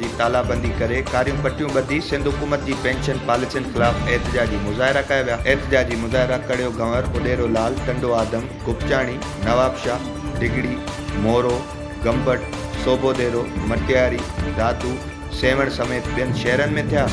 جي تالابندي ڪري ڪاريون پٽيون ٻڌي سنڌ حڪومت جي پينشن پاليسين خلاف احتجاجي مظاهرا ڪيا ويا احتجاجي مظاهرا ڪڙيو گهنور اڏيرو لال ٽنڊو آدم گوپچاڻي نوابشاھ ڊگهڙي مورو گمبٽ سوڀوديرو مٽياري دادو سيوهڻ سميت ٻين شهرن ۾ ٿيا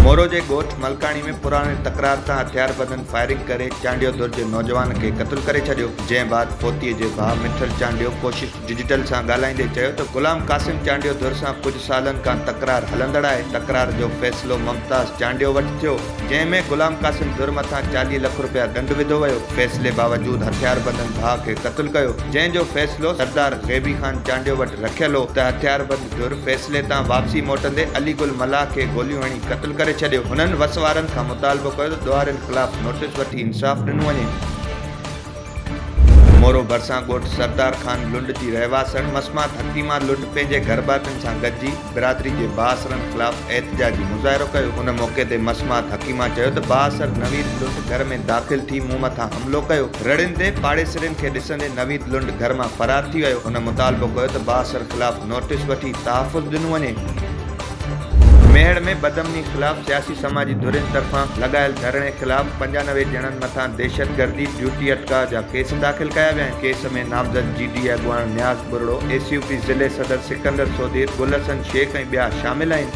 مورو جي ڳوٺ ملڪاڻي ۾ پراڻي تڪرار تان هٿياربندن فائرنگ ڪري چانڊيو ڌر جي نوجوان کي قتل ڪري ڇڏيو جنهن بعد پوتي جي ڀاء مٺل چانڊيو ڪوشش ڊجيٽل سان ڳالهائيندي چيو ته غلام قاسم چانڊيو ڌر سان ڪجهه سالن کان تڪرار هلندڙ آهي، تڪرار جو فيصلو ممتاز چانڊيو وٽ ٿيو، جنهن ۾ غلام قاسم ڌر مٿان چاليهه لک رپيا ڏنڊ وڌو ويو، فيصلي باوجود هٿياربندن ڀاء کي قتل ڪيو، جنهن جو فيصلو سردار غيبي خان چانڊيو وٽ رکيل هو ته هٿياربند ڌر فيصلي تان واپسي موٽندي علي گل ملاح کي گوليون هڻي قتل ڪري ڇڏيو، هنن وس وارن کان مطالبو ڪيو ته ڏوهارين خلاف نوٽيس وٺي انصاف ڏنو وڃي. مورو ڀرسان ڳوٺ سردار خان لنڊ جي رهواسڻ مسمات حڪيما لنڊ پنهنجي گهرڀاتين سان گڏجي برادري جي بااثرن خلاف احتجاجي مظاهرو ڪيو. ان موقعي تي مسمات حڪيما چيو ته بااثر نويد لنڊ گهر ۾ داخل ٿي مون مٿان حملو ڪيو. رڙين تي پاڙيسرين کي ڏسندي نويد لنڊ گهر مان فرار ٿي ويو. هن مطالبو ڪيو ته بااثر خلاف نوٽيس وٺي تحفظ ڏنو وڃي. ميهڙ ۾ بدامني خلاف سياسي سماجي ڌرين طرفان لڳايل ڌرڻي خلاف پنجانوي ڄڻن مٿان دهشتگردي، ڊيوٽي اٽڪاء جا ڪيس داخل ڪيا ويا آهن، ڪيس ۾ نامزد جي ڊي اڳواڻ Niaz Buriro, A C U P ضلعي صدر سڪندر سوڌير، گل حسن شيخ ۽ ٻيا شامل آهن.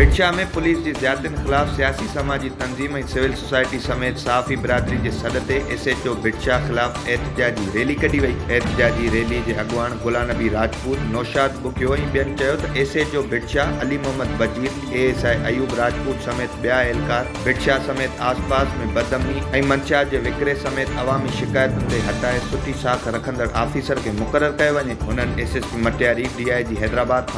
ويڙهه ۾ پوليس جي زيادتين خلاف سياسي سماجي تنظيم ۽ سول سوسائٽي سميت صحافي برادري جي سڏ تي ايس ايڇ او ويڙهه خلاف احتجاجي ريلي ڪڍي وئي احتجاجي ريلي جي اڳواڻ گلا نبي راجپوت نوشاد ٻگهيو ۽ ٻين چيو ته ايس ايڇ او ويڙهه Ali Muhammad Wazir A S I Ayub Rajput سميت ٻيا اهلڪار ويڙهه سميت آس پاس ۾ بدامني ۽ منشيات جي وڪري سميت عوامي شڪايتن تي هٽائي سٺي ساک رکندڙ آفيسر کي مقرر ڪيو وڃي هنن S S P Matiari D I G Hyderabad کان